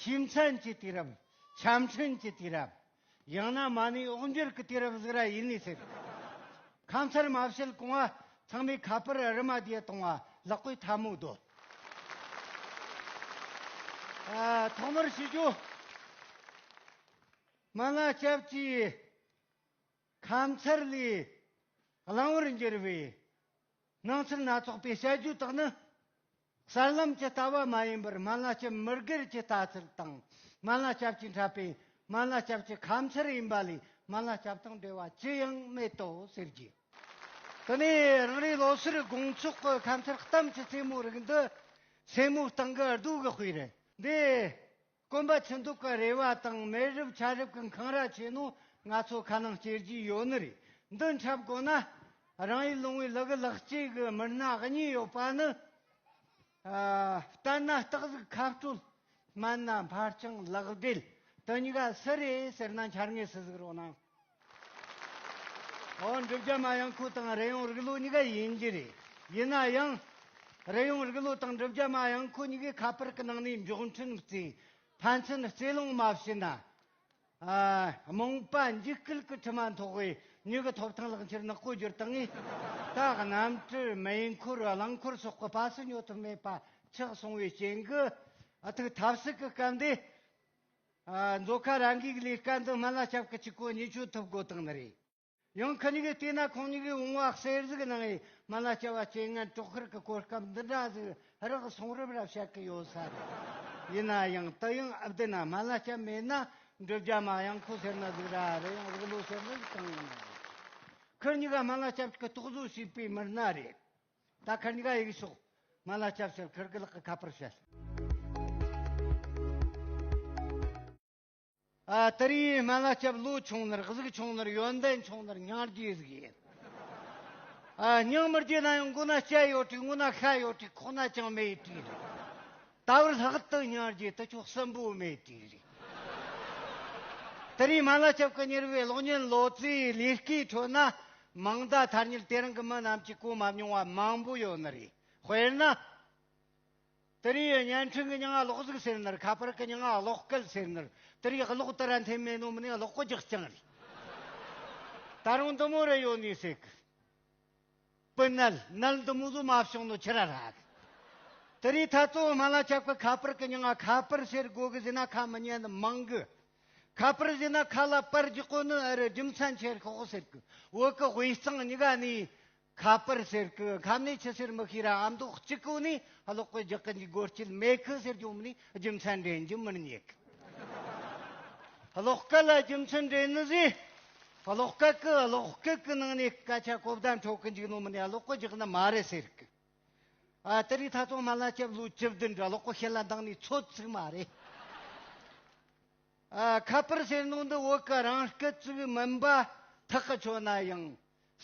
ཞིམ་མཚམས་ཀྱི་དུས་རབས། འཆམ་མཐུན་གྱི་དུས་རབས། ཡང་ན་མ་ཎི་ཨོག་འགྱུར་གྱི་དུས་རབས་ཟིག་ར་ཡིན་ནི་ཟེར། ཁ་མཚར་མ་བྱེད་གོང་བ་ཚང་མའི་ཁ་པར་རི་མ་དེ་གཏོང་བ་ལག་པའི་ཐལ་མོ་བརྡོལ། ཐོག་མར་ཞུ་རྒྱུ། མ་ལ་སྐྱབས་ཀྱིས་ཁ་མཚར་ལས་བླང་བར་འགྱུར་བའི་སྣང་ཚུལ་སྣ་ཚོགས་པའི་བཤད་རྒྱུ་དག་ནི་གསར་ལམ་གྱི་ལྟ་བ་མ་ཡིན་པར་སྨན་བླ་སྐྱབས་མི་སྒེར་གྱི་ལྟ་ཚུལ་དང་སྨན་བླ་སྐྱབས་ཀྱིས་འཁྲབ་པའི་སྨན་བླ་སྐྱབས་ཀྱི་ཁམས་ཚུལ་ཡིན་པ་ལས་སྨན་བླ་སྐྱབས་དང་འབྲེལ་བ་ཅི་ཡང་མེད་དོ་ཟེར་རྒྱུ། དེ་ནས་རང་རེའི་ལོ་སར་དགོང་ཚོགས་ཀྱི་ཁམས་ཚུལ་གཏམ་གྱི་རྩེད་མོ་རིགས་འདི་སེར་མོ་སྟེང་གི་གདུགས་གི་དཔེ་རེད། འདི་དཀོན་པ་ཆུ་འདོགས་ཀྱི་རེ་བ་དང་མེ་རབས་ཆར་རབས་ཀྱི་འཁང་ར་ཆེ་ནོ་ང་ཚོ་ཁ་ནང་སྐྱེལ་གྱི་ཡོད་ནི་རེད་འདི་འཁྲབ་དགོས་ན། རང་ཡུལ་ལུང་བའི་ལག་གི་ལག་སྐྱེས་ཀྱི་མི་སྣ་གཉིས་ཡོད་པ་ནི། ལྟར་ན་སྟག་གཟིག་ཁ་སྤྲོད། སྨན་སྣ་འཕར་སྤྱང་ལག་སྦྲེལ་དུ་ཉི་དགའ་སི་རེད་ཟེར་ན་འཆར་ངེས་སུ་གཟིགས་རོགས་གནང། འོན་བསྒྲུབ་བྱ་མ་ཡང་ཁུལ་དང་རེ་ཡོང་རིགས་ལུགས་གཉིས་ཀ་ཡིན་གྱི་རེད། ཡིན་ན་ཡང། རེ་ཡོང་རིགས་ལུགས་དང་བསྒྲུབ་བྱ་མ་ཡང་ཁུལ་གཉིས་ཀའི་ཁ་པར་གྱི་ནང་ནས་མགྱོགས་འཕྲིན་གཙོས་ཕན་ཚུན་རྩོད་གླེང་མ་བྱས་ན། རྨོངས་པ་འཇིགས་སྐུལ་གྱི་དྲི་མ་མཐོ་བའི་མྱུ་གུ་ཐོབ་ཐང་ལག་འཁྱེར་ནག་པོ་བསྒྱུར་སྟངས་ངས་ད་གནམ་གྲུ་མེ་འཁོར་རླངས་འཁོར་སོགས་ཀྱི་སྤ་སེ་ཉོ་ཐུབ་མེད་པ་ཆགས་སོང་བའི་རྐྱེན་གྱིས་ཐུགས་ཐབས་ཟད་ཀྱི་སྐབས་འདི་མཛོད་ཁང་རང་འགུལ་གྱི་ལས་ཀ་འདི་སྨན་བླ་སྐྱབས་ཀྱི་སྤྱི་སྐོར་གཉིས་སྤྱོད་ཐུབ་དགོས་དོན་རེད། ཡང་ཁ་ཉིན་གྱི་བལྟས་ན་ཁོང་གཉིས་ཀྱི་བོང་བ་གསེར་གཟིགས་ནང་ཡི་སྨན་བླ་སྐྱབས་བ་སྐྱེ་ངན་དཀྲོག་ཁུལ་གྱི་སྐོར་སྐབས་འདི་འདྲ་ཟིག་རག་གསུང་རབ་རབ་བཤད་ཀྱི་ཡོད་ས་རེད། ཡིན་ན་ཡང་དུ་ཡང་ཨ་བདེ་ན་སྨན་བླ་སྐྱབས་མེད་ན་འབྲུ་རྒྱ་མ་ཡང་ཁོ་ཟེར་ན་ཟིག་ར་རེད་ཡང་རིག་ལོ་ཟེར་ན་ཟིག་གང་ཡིན་ན་རེད། ཁོ་གཉིས་ཀ་སྨན་བླ་སྐྱབས་ཀྱི་རྟོག་བཟོ་བྱས་པའི་མི་སྣ་རེད། ད་ཁར་འགའ་ཡིག་ཤོག་ང་ལ་སྐྱབས་ཕྱིར་ཁར་གི་ལག་གི་ཁ་པར་བཤད། ཨ་ཏི་རི་ཡིས་སྨན་བླ་སྐྱབས་བློ་ཆུང་ནར་གཟུགས་ཆུང་ནར་ཡོན་ཏན་ཆུང་ནར་སྙིང་རྗེ་གཟུགས་ཡིན། སྙིང་མི་རྗེ་ན་ཡང་མགོ་ན་སྐྱ་ཡོད་དུས་ངོ་ན་ཤ་ཡོད་དུས་ཁོག་ན་ཅང་མེད་དུས་རེད། ད་བར་ལྷག་ཏུ་སྙིང་རྗེ་དུ་ཆོག་སྲིན་པོ་མེད་དུས་རེད། ཏི་རི་སྨན་བླ་སྐྱབས་ཀྱི་གཉེར་བའི་གློག་བརྙན་ལོ་ཙཱའི་ལས་ཀའི་ཁྲོད་ན་མིང་བརྡ་ཐར་ཉིད་དེ་རིང་གི་མི་རྣམས་ཀྱིས་གོ་མ་མྱོང་བ་མང་པོ་ཡོད་ནི་རེད། དཔེར་ན། དེ་རིང་ཡི་བརྙན་འཕྲིན་གྱི་ཉིང་ཀློག་གཟིགས་ཟེར་ནི་ཁ་པར་གྱི་ཉིང་ཀློག་སྐད་ཟེར་ནི་དེ་རིང་གློག་དེ་ར་འཐེན་མེད་ནོ་མི་ནས་གློག་རྒྱག་རྐྱང་རེད། ད་རུང་འདི་མོ་རེ་ཡོད་ནི་སྲིད་གི། པི་ནལ་ནལ་འདི་མོ་བཟོ་མ་བྱུང་ནི་ཁྱི་ར་ར་གི། དེ་རིང་ཐ་གཙོ་བོ་སྨ་ལ་ཆགས་པའི་ཁ་པར་གྱི་ཉིང་ཁ་པར་ཟེར་དགོས་གི་ཟིན་ན་ཁ་མི་ཉན་ནི་མང་གི་ཁ་པར་བཞི་ན་ཁ་ལ་པར་རྒྱག་གོ་ནི་ཨ་རི་རྒྱུ་མཚན་ཆེར་ཤོག་ཟེར་གི་འོག་གི་དབུས་གཙང་གཉིས་ཀ་ནས་ཁ་པར་ཟེར་གི་ཁམས་ནས་ཆུ་སེར་མི་ཤེས་ར་ཨ་མདོ་གཅིག་གོ་ནས་གློག་སྐུད་རྒྱག་གི་འཇུག་སྒོར་སྐྱིད་མེད་གི་ཟེར་རྒྱུ་མི་ནས་རྒྱུ་མཚན་འདྲེན་རྒྱུ་མི་རྙེད་གི། གློག་སྐད་ལ་རྒྱུ་མཚན་འདྲེན་ནི་ཟེར། གློག་སྐད་གི་གློག་སྐུད་གི་ནང་ནས་སྐད་ཆ་གོ་བདེ་འཕྲོད་གི་འཇུག་ནོ་མི་ནས་གློག་སྐུད་རྒྱག་ནི་མ་རེད་ཟེར་གི། ཨ། དེ་རིང་ད་དུང་མ་ལ་སྐྱབས་ལུགས་བཅུ་བདུན་འདྲ་ལོག་པོ་ཞེ་ལ་འདང་ནས་ཚོད་ཚུགས་མ་རེད། ཨ། ཁ་པར་ཟེར་ནོ་འདི་བོད་ཀྱི་རང་སྐད་བཙུགས་མིན་པ་ཐག་གི་ཆོད་ན་ཡང།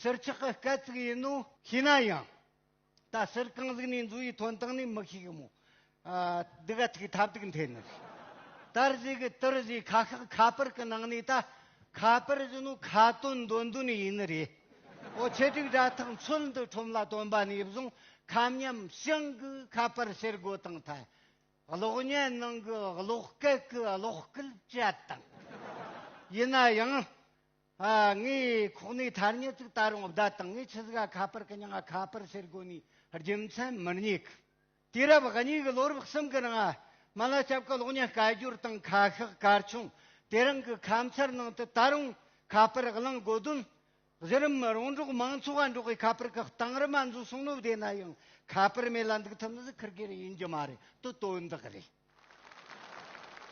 ཟུར་ཆག་གི་སྐད་བཙུགས་ཡིན་ནོ། ཤེས་ན་ཡང། ད་ཟུར་གང་གཟིགས་ནས་འཛུལ་བའི་དོན་དག་ནི་མི་ཤེས་གི་མོད། སྡུག་ཨ་ཐུག་ཐབས་སྡུག་འཐེན་ནི། དར་བཞི་གི་དུར་བཞི་ཁ་ཤག་ཁ་པར་གི་ནང་ནས་ད་ཁ་པར་བཞིན་ནོ་ཁ་དོན་འདོན་དོན་ཡིན་ནི་རེད། ཨོ་ཆེ་དྲུག་དྲ་ཐག་མཚོལ་འདི་ཁྲོམ་ལ་སྟོན་པ་ནས་བཟུང་ཁ་མཉམ་ཞིང་གི་ཁ་པར་ཕྱིར་བགོ་དང་ཐལ་གློག་བརྙན་ནང་གི་གློག་སྐད་གི་གློག་སྐུལ་བཅད་དང། ཡིན་ན་ཡང། ངའི་ཁོག་ནས་ཐར་ཉེར་གཅིག་ད་རུང་བརྡ་དང་ངའི་ཆི་ཟ་ག་ཁ་པར་གི་མྱང་ང་ཁ་པར་ཕྱིར་བགོ་ནས་རྒྱུ་མཚན་མི་རྙེད་གི། དུས་རབས་ང་གཉིས་ཀྱི་ལོ་རབས་གསུམ་གྱི་ནང་མ་ལ་སྐྱབས་ཀྱི་གློག་བརྙན་བསྐལ་བསྒྱུར་དང་ཁ་ཤགས་སྐར་ཆུང་དེ་རིང་གི་ཁ་མཚར་ནང་དུ་ད་རུང་ཁ་པར་བླངས་དགོས་དོན། གཞི་རིམ་རོང་འབྲོག་མང་ཚོགས་ལ་འབྲོག་པའི་ཁ་པར་གི་གཏང་རིམ་ཨ་འཛུགས་སྲུང་ནུབ་བསྡད་ན་ཡང་ཁ་པར་མེད་ལ་འདུག་ཐུབ་ན་གཟིགས་ཁུར་གྱིར་ཡིན་རྒྱུ་མ་རེད་དོ་དོན་དག་རེད།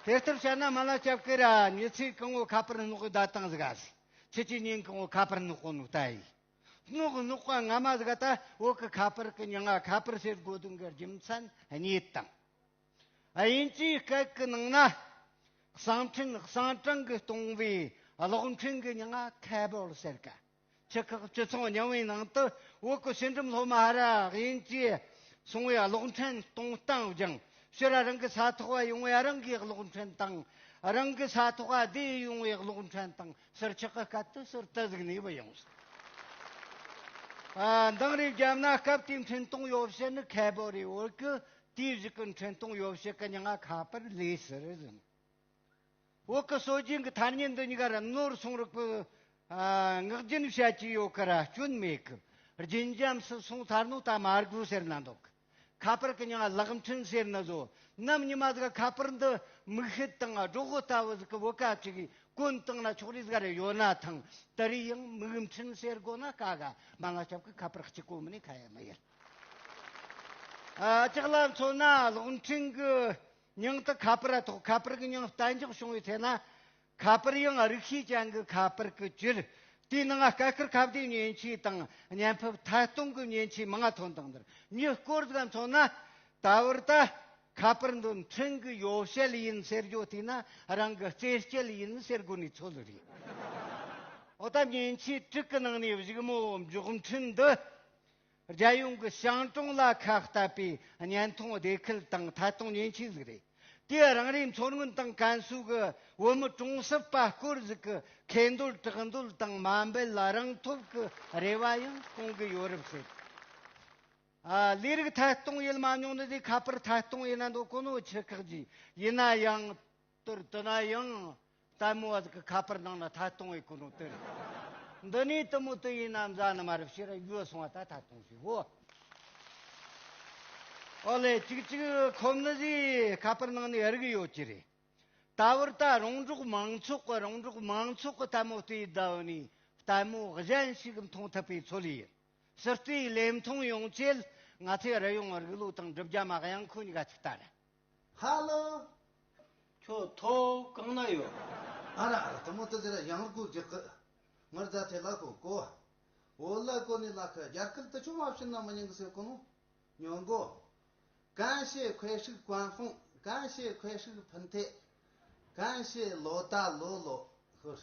དེ་ལྟར་བྱས་ན་མ་ལ་སྐྱབས་ཀྱི་ར་ཉི་ཚེ་གང་བོ་ཁ་པར་སྣོག་གི་བརྡ་བཏང་གཟིགས་ཨ་སི་ཚེ་ཆུ་གཉན་གང་བོ་ཁ་པར་སྣོག་གོ་ནུག་ལྟ་ཡིས། སྣོག་སྣོག་པ་སྔ་མ་ཟིག་ད་འོག་གི་ཁ་པར་གི་མྱི་ང་ཁ་པར་ཟེར་དགོས་དོན་གི་རྒྱུ་མཚན་རྙེད་དང། དབྱིན་ཇིའི་སྐད་གི་ནང་ན་གསང་འཕྲིན་གསང་གྲངས་གི་སྟོང་བའི་གློག་འཕྲིན་གི་མྱི་ང Cable ཟེར་ག་སྤྱི་ཁག་སྤྱི་ཚོགས་རྙིང་བའི་ནང་དུ་འོག་གི་ཕྱི་འགྲིམ་སློབ་མ་ཧ་ར་དབྱིན་ཇིའི་སོང་བའི་གློག་འཕྲིན་གཏོང་སྟངས་སྦྱང་ཕྱིར་རང་གི་ས་ཐོག་བ་ཡོང་བའི་རང་གི་གློག་འཕྲིན་དང་རང་གི་ས་ཐོག་བ་བསྡད་ཡོང་བའི་གློག་འཕྲིན་དང་སེར་ཆགས་ཀྱི་སྐབས་དུ་སེར་རྟ་གཟིགས་ནས་བུད་ཡོང་ཟེར། མདང་རའི་རྒྱབ་ན་སྐབས་དེའི་འཕྲིན་གཏོང་ཡོ་བྱད་ནི་ཁལ་བོ་རེད་འོད་གི་དུས་བཞི་གི་འཕྲིན་གཏོང་ཡོ་བྱད་གི་ཉིང་ང་ཁ་པར་ལས་ཟེར་ཟིན། འོད་གི་སྲོལ་རྒྱུན་གྱི་ཐ་སྙད་འདི་ཉིང་ངར་ནོར་སོང་རིགས་པས་ངག་རྒྱུན་བཤད་ཀྱི་ཡོད་ཀི་ར་སྐྱོན་མེད་གི། རྒྱུན་འབྱམས་སུ་སོང་ཚར་ནོ་ད་མ་དགོས་ཟེར་ན་འདོད་གི། ཁ་པར་གྱི་ཉིང་གླགས་མཐུན་ཟེར་ནི་བཟོ། ནམ་ཉི་མ་ཟིག་ཁ་པར་འདི་མིག་ཤེལ་དང་སྒྲོག་གོ་ལྟ་བུ་ཟིག་གི་བུ་ག་ཅིག་གིས་བཀོན་བཏང་ན་ཆོག་རེས་འགའ་རེ་ཡོད་ན་ཐང་དེ་རིགས་ཡང་མིག་མཐུན་ཟེར་དགོས་ན་དཀའ་ག་མ་ང་སྐྱབས་ཀྱི་ཁ་པར་གཅིག་གོ་མི་ནི་ཁ་ཡ་མི་ཡལ། ཅག་ལ་མཚོན་ན་གློག་འཕྲིན་གྱི་ཉིང་དུ་ཁ་པར་ཐོག་ཁ་པར་གྱི་ཉིང་གཏན་འཇགས་བྱུང་བའི་ཚེ་ན་ཁ་པར་ཡང་རིགས་ཤེས་ཅན་གྱི་ཁ་པར་གྱི་སྤྱིར། དེའི་ནང་སྐད་བསྐུར་ཁ་བརྡའི་མཉེན་ཆས་དང་བརྙན་ཕབ་ཐད་གཏོང་གི་མཉེན་ཆས་མང་དོ་འདང་འདིར་མྱུལ་སྐོར་དགའ་མཚོ་ན། ད་བར་ད། ཁ་པར་འདི་འཕྲིན་གྱི་ཡོ་བྱད་ཡིན་ཟེར་རྒྱུ་བལྟས་ན་རང་གི་རྩེད་སྤྱད་ཡིན་ཟེར་དགོས་ནི་ཚོད་རེད། འོ་ད་མཉེན་ཆས་དྲུག་གི་ནང་ནས་བཞུགས་མོ་མགྱོགས་འཕྲིན་འདི། རྒྱལ་ཡོངས་ཀྱི་ཞང་གྲོང་ལ་ཁ་གཏད་པའི་བརྙན་ཐུང་སྡེ་ཁུལ་དང་ཐད་གཏོང་ཉེན་ཆེ་ཟིག་རེད། དེས་རང་རེའི་མཚོ་སྔོན་དང་ཀན་སུའུ་གི་བོད་མི་གྲོང་གསེབ་པ་སྐོར་ཞིག་གི་ཁེ་འདོད་དྲག་འདོད་དང་མ་འབད་ལ་རང་ཐོབ་ཀྱི་རེ་བ་ཡང་སྐོང་གི་ཡོད་རབས་བཤད། ལས་རིགས་ཐད་གཏོང་ཡུལ་མ་ཉུང་ན་དེ་ཁ་པར་ཐད་གཏོང་ཡིན་ན་འདོད་ཁོ་ནའོ་ཆི་ཁག་ཅིག་ཡིན་ན་ཡང། དོར་དོ་ན་ཡང་ལྟད་མོ་བ་ཟིག་གི་ཁ་པར་ནང་ན་མཐའ་སྟོང་བའི་སྐུ་རུང་དོན་རེད། འདི་ནས་དུ་མོ་དུ་ཡིན་ན་མཛའ་ནུ་མ་རུ་བྱེད་ར་ཡོད་སོང་བ་ད་མཐའ་སྟོང་ཞིག་བོ། ཨོ་ལེ་ཅིག་ཅིག་ཁོ་མི་ཟིག་ཁ་པར་ནང་ནས་རིག་ཡོད་ཀྱི་རེད། ད་བར་ད་རོང་འབྲོག་མང་ཚོགས་གི་རོང་འབྲོག་མང་ཚོགས་གི་ལྟད་མོ་བལྟོས་ཡི་ད་བོ་ནས་ལྟད་མོ་གཞན་ཞིག་མཐོང་ཐུབ་པའི་ཚོད་ལས་ཡིན། སྲིད་བལྟོས་ལས་མཐོང་ཡོང་ཆེད་ང་ཚོས་རི་ཡོང་རིག་ལུགས་དང་སྒྲུབ་བརྒྱ་མ་གཡང་འཁོན་འགའ་ཞིག་ལྟ་ར། ཧ་ལོ། ཁྱོད་མཐོ་གང་ན་ཡོད། ཨ་ར་ཨ་ར་དེ་མོ་ཏི་ཟེར་ཡ་ཡང་རུ་གུ་རྒྱག་གི། ངར་རྫ་ཐའི་བླ་ཁོ་གོ། འོ་བླ་ཁོ་ནི་བླ་ཁ་རྒྱར་ཁུལ་དུ་ཆུང་མ་བྱིན་ན་མི་ཉུང་གི་སེ་གོ་མོ། ཉོ་མགོ། གན་ཤེ་ཁོའི་ཧྲིག་གོན་ལྷུང་གན་ཤེ་ཁོའི་ཧྲིག་ཕུན་ཐེག། གན་ཤེ་ལོ་ད་ལོ་ལོ་ཧུར།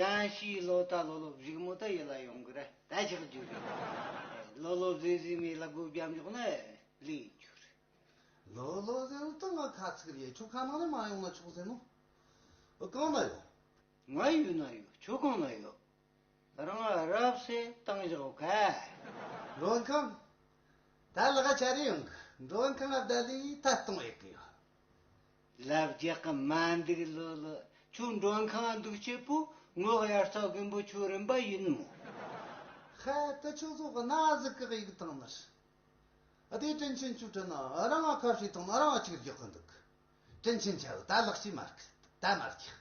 གང་ཞིག་ལོ་ད་ལོ་ལོ་བཞུགས་མོ་ད་ཡིད་ལ་ཡོང་གི་རེད་ད་ཆགས་རྒྱུ་རེད། ལོ་ལོ་བཟས་བཟས་མི་ལ་སྒོ་བརྒྱབ་མགྱོགས་ན་ལས་རྒྱུ་རེད། ལོ་ལོ་བཟས་ལོ་ད་ང་ཁ་ཚིག་རེད་ཁྱོད་ཁ་ནང་ནས་མ་ཡོང་ན་ཆོག་ཟེར་ནོ། གང་ན་ཡོད། ང་ཡུལ་ན་ཡོད་ཁྱོད་གང་ན་ཡོད། རང་ཨ་རབ་ས་སྟངས་བཞག་ག། འགྲོ་མཁན་གང། ད་ལག་ཆ་རེ་ཡོང་གི་འགྲོ་མཁན་ཨབ་དཱ་ལིའི་ཐད་གཏོང་ཡག་གི་ཡོད། ལབ་རྒྱག་གི་མ་འདུག་ལོ་ལོ། ཁྱོད་མགྲོན་ཁང་འདུག་སྐྱེས་བུ་ངོ་ཡར་རྩ་རྒོད་འབོ་ཆུ་རིན་པ་ཡིན་ནོ། ཧེ་ད་ཁྱོད་ཚོ་གི་ན་ཟུག་གི་གཡུག་སྟངས་ནི། དེ་དྲིན་ཆེན་ཁྱོད་དྲིན་ན་རང་ང་ཁ་ཧྲིལ་ཐང་ན་རང་ང་ཅིག་རྒྱག་གི་འདུག་དྲིན་ཆེན་ཁྱོད་ད་ལག་ཅིག་མ་རྒྱག་ད་མ་རྒྱག་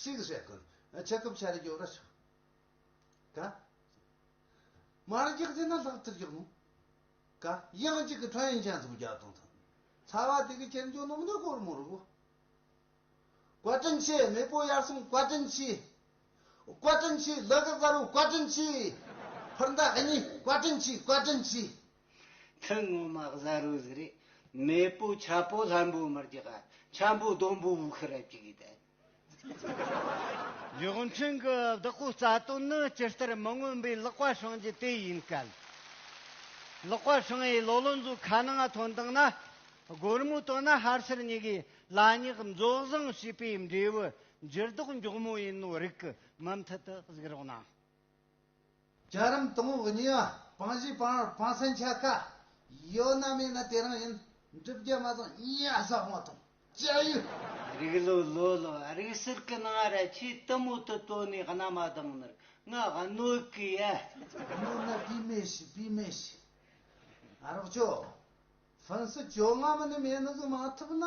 ཞིག་བྱེད་གི་འདུག་ཁྱི་རྐུབ་ཆ་རེ་རྒྱོབ་ར་ཤོག་ག། མ་རྒྱག་ཅེ་ན་ལྷག་ཅིག་རྒྱག་ནོ། ཀ། དབྱང་གཅིག་གི་ཁྲོན་ཡན་ཅན་ཚོ་བརྒྱ་སྟོང་དང། ཚ་བ་དེ་གི་ཁྱེར་འཇོག་ནོམ་ནི་སྒོར་མོ་རུ། བཀའ་དྲིན་ཆེ་མེས་པོ་དབྱར་གསུམ་བཀའ་དྲིན་ཆེ། བཀའ་དྲིན་ཆེ་ལི་གི་གཟར་བོ་བཀའ་དྲིན་ཆེ། ཕུར་མདའ་ཨ་མྱེས་བཀའ་དྲིན་ཆེ་བཀའ་དྲིན་ཆེ། ཐུན་ངོ་མ་གཟར་བོ་ཟི་རི་མེས་པོ་ཆ་པོ་ལྷམ་པོ་མར་གྱི་ག་ཆམ་པོ་དོམ་པོ་བུ་ཁི་རབ་ཅིག་གི་དལ། རྒྱུགས་མཆན་གྱི་བདག་པོའི་རྩ་དོན་ནི་སྤྱི་ལྟར་མི་མངོན་པའི་ཀློག་པ་བྱུང་རྒྱུ་དེ་ཡིན་སྐད། ཀློག་པ་བྱུང་བའི་ལོ་ལོན་ཚོས་ཁ་ནང་དོན་དག་ན་སྒོར་མོའི་དོན་ན་ཧར་སེར་གཉིས་ཀའི་ལ་སྙེག་འཛོགས་བཟང་བྱས་པའི་འབྲས་བུ་འགྱུར་ལྡོག་མགྱོགས་མོ་ཡིན་ནོ་རིགས་ཀྱི་མུ་མཐུད་དུ་གཟིགས་རོགས་གནང། རྒྱ་རིམ་དང་བོ་གཉིས་པ་དཔང་བཞི་དཔང་བར་དཔང་སེན་ཆ་ཀ་ཡོད་ན་མེད་ན་དེ་རང་ཡིན། འགྲུབ་རྒྱ་མ་བཟང་གཉིས་ཡ་ས་དབང་དང་བཅའ་ཡུལ། རིགས་ལོ་ལོ་ལོ་རིགས་གསེར་གི་ནང་ར་ཆེའི་གཏི་མུག་ཏུ་བཏོན་ནས་རྣ་མ་གདངས་ནར་ང་གནོད་གི་ཡ། གནོད་ན་པི་མེ་ཤི་པི་མེ་ཤི། རོགས་ཅོ། ཕུན་སུ་ཇོ་སྔ་མོ་ནི་མེད་ནུ་གི་མ་ཐུབ་ན།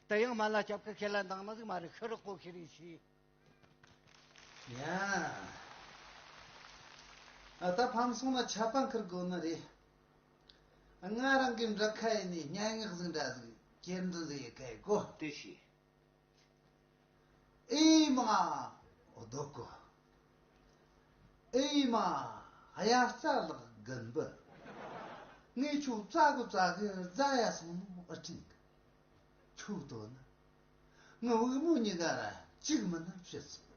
ད་ཡང་མ་ལ་སྐྱབས་ཀྱི་ཁས་ལ་འདང་མ་ཟིག་མ་རེད་ཤི་རོགས་པོ་ཤི་རིགས་ཤིག། ཡང་ད་ཕམ་སོང་ན་ཆད་པ་འཁུར་དགོས་ནི་རེད། ང་རང་གི་འདྲ་ཁ་ཡིན་ནས་སྙན་ངག་ཟིག་འདྲ་ཟིག་གྱེར་འདུག་ཟེར་ཡི་ག་ཡི་གོ། དེ་ཤེས། ཨེ་ཡི་མ། རྡོ་བརྐོ། ཨེ་ཡི་མ། གཡའ་རྩ་ལག་རྒན་པོ། ངས་ཁྱོད་རྩ་དགོས་རྩ་དགོས་རྫ་ཡ་སོང་ནོ་ཨི་ཁྲིན་གི། ཕྱུགས་དོ་ན། དངུལ་དབུལ་མོ་གཉིས་ཀ་ལ་གཅིག་མིན་ན་ཤི་ཚུལ།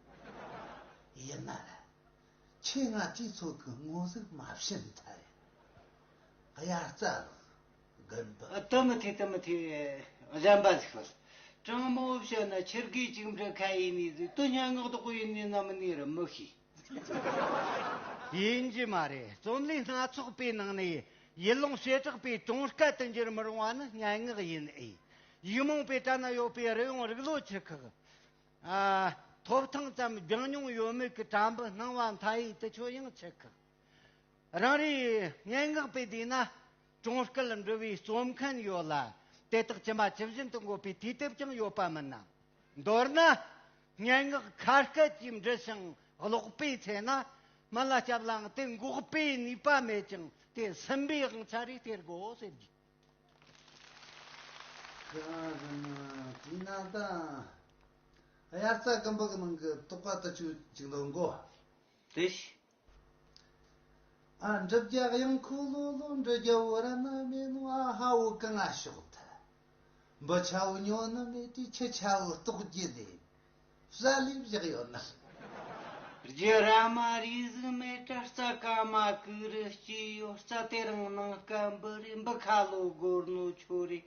ཡིན་ན་ལ། ཁྱེད་ང་སྤྱི་ཚོགས་ཀྱི་ངོ་གཟུགས་མ་ཕྱེ་མཐར། དབྱར་རྩྭ་ལགས། དགོན་པ། ཏུ་མི་ཐེ་ཏུ་མི་ཐེ། གཞན་པ་ཟིག་ལ། ཀྲང་མོ་བོ་བཤད་ན་ཁྱེད་སྒོས་གཅིག་འབྲི་མཁན་ཡིན་ནི་ཟིག་ཏུ་སྙན་ངག་ཏུ་བཀོད་ཡིན་ནི་ནམ་ནི་རུ་མི་ཤེས། ཡིན་རྒྱུ་མ་རེད། རྩོམ་ལུས་སྣ་ཚོགས་པའི་ནང་ནས་ཡུལ་ལུང་བྱེ་བྲག་པའི་དོན་སྐད་དུ་འགྱུར་མི་རུང་བ་ནི་སྙན་ངག་ཡིན་ཨེ། ཡིག་རྨོངས་པའི་གྲལ་ན་ཡོད་པའི་རི་ཡོང་རིག་ལོ་ཆུ་ཁག། ཐོབ་ཐང་ཙམ་རྒྱང་མྱོང་ཡོད་མེད་ཀྱི་གྲྭ་འབུ་སྣང་བ་མཐའ་ཡས་དུ་ཆོས་དབྱིངས་ཆུ་ཁག། རང་རེའི་སྙན་ངག་པའི་སྡེ་ན་གྲོང་སྐད་འབྲི་བའི་རྩོམ་མཁན་ཡོད་ལ། དེ་དག་ཇི་མ་ཇི་བཞིན་དུ་འགོད་པའི་དུས་དེབ་ཀྱང་ཡོད་པ་མིན་ནམ། མདོར་ན། སྙན་ངག་ཁ་སྐད་ཀྱིས་འབྲི་ཞིང་ཀློག་པའི་ཚེ་ན། མི་ལ་སྐྱབས་ལའང་དེ་འགོག་པའི་ནུས་པ་མེད་ཅིང་དེ་ཟིན་པའི་དབང་ཆ་རེ་སྟེར་དགོས་ཟེར་རྒྱུ། ཁྱོད་རང་གི་ནང་དྲིའི་ནང་དང། དབྱར་རྩྭ་སྐམ་པོ་གི་ནང་གི་རྟོག་པ་ལྟ་ཅུང་ཅིག་འདོན་དགོས། དེ་བཞིན་འགྲུབ་རྒྱག་དབྱངས་ཁུ་ལུ་ལུ་འགྲུལ་རྒྱ་བོ་ར་ན་མེ་ནུ་ཨ་ཧ་བོ་ཀི་ང་ཤོག་ཐལ་འབུ་ཆ་བོ་ཉོ་ནི་མེ་ཏྲི་ཁྱི་ཆ་བོ་ལྟོགས་རྒྱུ་ལས་བཟའ་ལས་བཞག་ཡོད་ནི། རྒྱུ་ར་མ་རིས་གཟུགས་མེད་ཏྲ་རྩ་ཀ་མ་ཀུ་རུ་སྐྱི་ཡོ་རྩ་དེ་རང་ནང་སྐད་འབུ་རེ་འབུ་ཁ་ལོ་སྒོར་ནོ་ཆོ་རེ་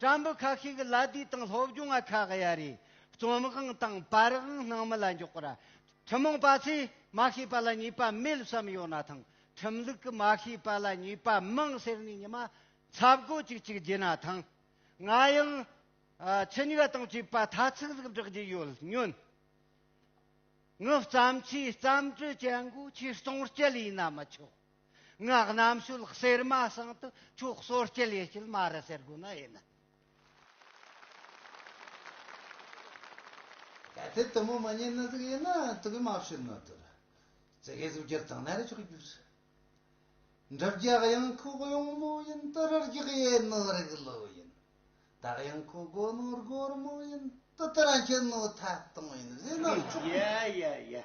བཀྲ་འབུ་ཁག་ཤིག་གི་ལ་དུས་དང་སློབ་སྦྱོང་བ་ཁག་གཡའ་རེ་རྩོམ་དབང་དང་པར་དབང་སྣང་མེད་ལ་འཇོག་པ་ར་ཁྲིམས་མང་པ་ཚོས་མ་ཤེས་པ་ལ་ཉེས་པ་མེད་བསམ་ཡོད་ན་ཐང་ཁྲིམས་ལུགས་ཀྱི་མ་ཤེས་པ་ལ་ཉེས་པ་མང་ཟེར་ནས་ཉི་མ་ཚབ་དགོས་ཅིག་ཅིག་བགྱིད་ན་ཐང་ང་ཡང་ཚིག་ཉུག་དང་བཅས་པ་ཐ་ཚིག་ལུགས་བསྒྲགས་ཀྱི་ཡོད་སྙོན་ངག་བརྩམས་ཆོས་བརྩམས་གྲོས་བྱེད་འགོ་ཆེད་གཏོང་སྤྱད་ཡིན་ན་མི་ཆོག། ངག་རྣམ་ཤུལ་གསེར་མ་ཟངས་དུ་ཆོག་གསོལ་སྐྱེལ་ཡེ་སྐྱིལ་མ་རི་ཟེར་དགོས་ན་ཡིན་ནི། གལ་ཏེ་དུ་མོ་མ་རྙེད་ན་གཟུགས་ཡིན་ན་དུ་གུ་མ་བྱོན་ནོ་དུ་རུ་ཙི་གའི་གཟུགས་ཀྱིར་དང་ན་རེ་ཆོག་གྱུར། འགྲུབ་རྒྱག་དབྱངས་ཁུག་གཡུང་མོ་ཡིན་དུ་རུ་རྒྱག་ཡེ་ནོ་རིག་བློ་ཡིན་དུ་དབྱངས་ཁུག་སྒོ་ནོ་སྒོར་མོ་ཡིན་དུ་དུ་ར་འཁྱིལ་ནོ་ཐབ་སྟོང་ཡིན་བཟོས་ན་ཆོག་གྱུར། ཡ་ཡ་ཡ།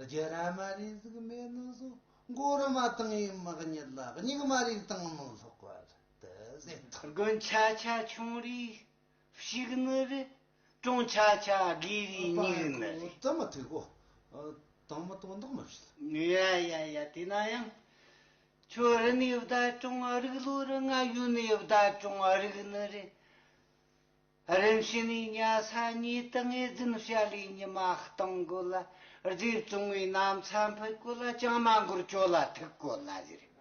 རྒྱུ་ར་མ་རིགས་གཟུགས་མེད་ནོ་གཟུགས་མགོ་རུ་མ་དང་ཡི་མག་གཉིས་ལ་སྙིགས་མ་རིགས་དང་མི་ལྷག་པ་དུ་ཟད་དོ། དགུན་ཆ་ཆ་ཆུང་རིགས་བཤིག་ནི་རི། གྲོང་ཆ་ཆ་དགའི་རིགས་སྙིགས་ནི་རི། རྩ་མི་ཐིག་གོ། དང་མི་དོ་འདག་མི་བྱེད། ཡ་ཡ་ཡ་དེས་ན་ཡང། ཁྱོད་རི་ནས་བདག་གྲོང་རིགས་ལོ་རི་ང་ཡུལ་ནས་བདག་གྲོང་རིགས་ནི་རི། རིམ་བྱས་ནས་གཉའ་ས་གཉིས་ཏང་ཨུའི་རྫུན་བཤད་ལས་ཉི་མ་སྟོང་དགོས་ལ་རྗེ་བཙུན་བའི་གནམ་ས་འཕུད་དགོས་ལ་ཅང་མ་འགོར་ཅོ་ལ་ཐུག་དགོས་ལ་ཟེར་རེད།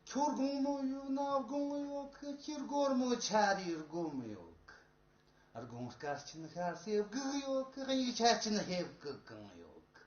ཁྱོར་དགོང་མོ་ཡོད་ན་དགོང་ཡོད་གི་སྤྱིར་སྒོར་མོ་ཆ་རེའི་སྒོམ་ཡོད་གི། དགོང་སྐར་ཆེན་ཤར་ཚེ་སྒུག་ཡོད་གི་དབྱུག་ཆ་ཅན་ཧེབ་གི་གང་ཡོད་གི།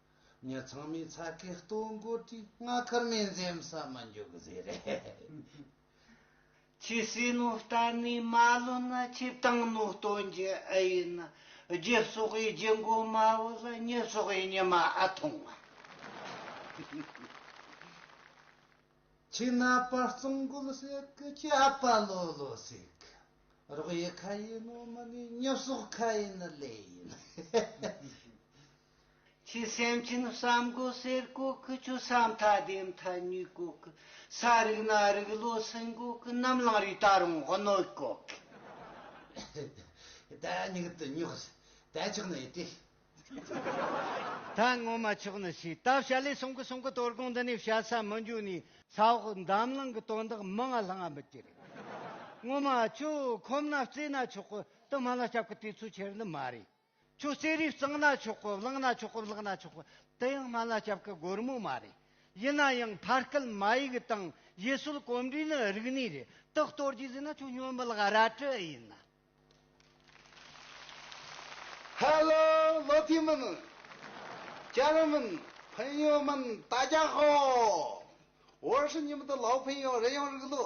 ངས་ཚང་མའི་ཚ་གས་ལྟོ་འགོ་དྲིས། ང་ཁར་མེད་འཛེམ་ས་མ་འཇུག་གི་ཟེར་རེད། ཁྱི་སྲིན་ནོ་ལྟ་ནས་མ་ལོན་ན་ཁྱི་སྟེང་ནོ་ལྟོ་འགྱེལ་ཨེ་ཡིན་ན། རྒྱུ་སོགས་ཡི་རྒྱུ་མགོ་དམའ་བོ་ལ་ཉི་སོགས་ཡི་ཉི་མ་ཨ་ཐུང་ང། ཁྱི་ན་པ་རྩང་རྒོད་སྲེག་གི་ཁྱི་ཨ་པ་ལོ་ལོ་སྲེག་གི། རོགས་ཡི་ཁ་ཡིན་ནོ་མི་ནི་ཉི་སོགས་ཁ་ཡིན་ལེ་ཡིན། ཅི་སེམས་ཅི་ནུས་བསམ་དགུ་གསེར་སྐུ་ཀུ་ཅོ་ས་མཐའ་ལྡེ་མཐའ་སྨྱུག་སྐུ་ཀུ་ས་རིགས་སྣ་རིགས་བློ་སེང་སྐུ་ཀུ་གནམ་གླིང་རི་ད་རུང་བྷོ་ནོས་སྐུ་ཀུ། ད་སྨྱུག་དུ་སྨྱུག་ཟེར་ད་ཆགས་ནས་ཏིག། ད་སྔོན་མ་ཆགས་ནས་ཤི་ད་བྱ་ལས་སོང་གི་སོང་གི་དོལ་གོང་འདི་ནས་བྱ་ས་མི་འཇུག་ནས། ས་འོག་འདམ་ལང་གི་དོན་དག་མི་ང་ལྷང་ང་མི་ཀྱི་རེད། སྔོན་མ་ཁྱོད་ཁོམ་ན་བརྩེ་ན་ཆོག་གི་དུ་མ་ལ་སྐྱབས་གི་དུས་ཚོད་ཁྱེར་ནི་མ་རེད། ཁྱོད་རྩེད་རིགས་གཙང་ན་ཆོག་གོ་བརླག་ན་ཆོག་གོ་བརླག་ན་ཆོག་གོ་དེ་ཡང་སྨན་བླ་སྐྱབས་ཀྱི་སྒོར་མོ་མ་རེད། ཡིན་ན་ཡང་ཕ་སྐད་མ་ཡིག་དང་ཡུལ་སྲོལ་གོམས་འདྲིས་ནི་རིག་གནས་རེད་དེ་གཏོར་རྒྱུ་ཟེར་ན་ཁྱོད་སྨྱོན་མི་ལགས་ར་སྤྲོད་ཨེ་ཡིན་ན། Hello བློ་མཐུན་མིན། སྐྱ་རེངས་མིན། ཕན་ཡོན་མིན་ད་རྒྱག་ཧོ། བོད་ཧྲི་ཉི་མ་དང་ལའོ་ཕན་ཡོན་རེད་ཡང་རིག་ལོ།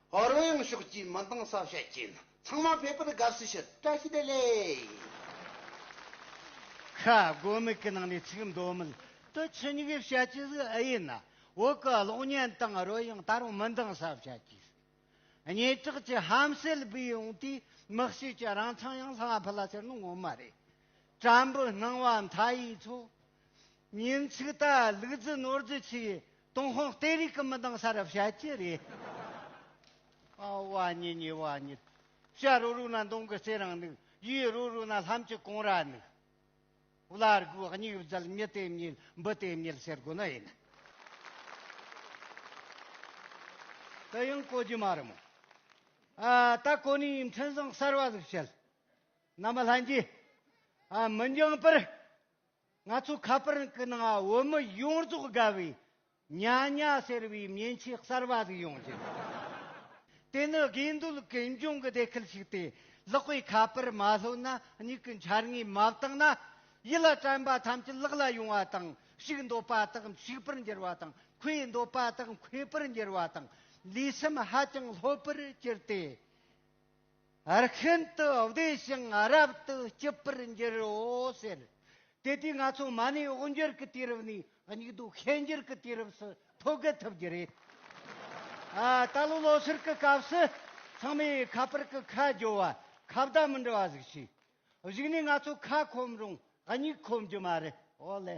རོལ་དབྱངས་ཕྱོགས་བསྐྱིལ་མི་འདང་ས་བཤད་ཀྱིན་ཚང་མ་ཕེབས་པར་དགའ་བསུ་ཞུ། བཀྲ་ཤིས་བདེ་ལེགས། ཤ་རྒོད་མིག་གི་ནང་ནས་ཚིག་མདོ་མིད་དུ་ཆུ་སྙིགས་བཤད་ཀྱི་ཟིག་ཨེ་ཡིན་ན་འོག་གི་གློག་བརྙན་དང་རོལ་དབྱངས་ད་རུང་མི་འདང་ས་བཤད་ཀྱི་ཟིག་སྙན་གྲགས་ཀྱི་ཧམ་སེལ་སྦས་ཡོང་དུས་དམག་བཤིག་ཀྱི་རང་མཚང་ཡང་ལྷང་ཕུ་ལ་ཟེར་ནི་ངོ་མ་རེད་བྲམ་བུ་སྣང་བ་མཐའ་ཡས་ཚོ། ཉིན་ཚིག་ད་ལུག་རྫི་ནོར་རྫི་ཚིག་ཏུང་ཧོང་ལྟའི་རིགས་ཀྱི་མི་འདང་ས་རབ་བཤད་ཀྱི་རེད། ཨ་བ་ཉི་ཉི་བ་ཉི། བྱ་རོ་རུ་ན་མདུང་གི་རྩེ་རང་ནུག་ཡུས་རོ་རུ་ན་ལྷམ་གྱི་གོང་ར་ནུག། བླ་རྒུ་སྙིགས་བརྫལ་མྱི་དེ་མྱིལ་འབུ་དེ་མྱིལ་ཟེར་དགོས་ནི་ཡིན། དེ་ཡང་གོ་རྒྱུ་མ་རེད་མོ། ཨ་ད་གོ་ནི་ཡིན་འཕྲིན་བཟང་གསར་བ་ཟིག་བྱེད། ནམ་ལྷན་རྒྱས། མི་འགྱངས་པར། ང་ཚོ་ཁ་པར་གི་ནང་བོད་མི་ཡོངས་རྫོགས་དགའ་བའི་ཉ་ཉ་ཟེར་བའི་མཉེན་ཆས་གསར་པ་ཟིག་ཡོང་རྒྱུ་རེད། དེ་ནི་དགེ་འདུན་གྱི་འབྱུང་གི་སྡེ་ཁུལ་ཞིག་སྟེ་ལག་པས་ཁ་པར་མ་ལྷོད་ན་མྱིག་གི་འཆར་ངོས་མ་བརྟགས་ན་ཡིད་ལ་དྲན་པ་ཐམས་ཅད་ལག་ལ་ཡོང་བ་དང་ཞིག་འདོད་པ་དག་ཞིག་པར་འགྱུར་བ་དང་ཁོས་འདོད་པ་དག་ཁོས་པར་འགྱུར་བ་དང་ལུས་སེམས་ཧ་ཅང་ལྷོད་པོར་གྱུར་ཏེ། ཨར་ཤན་དུ་བདེ་ཞིང་ཨ་རབ་ཏུ་སྐྱིད་པར་འགྱུར་རོ་ཟེར། དེ་དུས་ང་ཚོ་མ་ནི་འོག་འགྱུར་གྱི་དུས་རབས་ནས་སྙིགས་སྡུག་ཤན་འགྱུར་གྱི་དུས་རབས་སུ་ཐོ་གུ་ཐུབ་རྒྱུ་རེད། ད་ལོ་ལོ་ཤུར་གྱི་སྐབས་སུ་ཚང་མས་ཁ་པར་གྱི་ཁ་རྒྱོ་བ་ཁ་བརྡ་མི་འབྲི་བ་ཟིག་བྱས། གཞིགས་ནས་ང་ཚོ་ཁ་ཁོམ་རུང་སྙིགས་ཁོམ་རྒྱུ་མ་རེད། ཨོ་ལེ།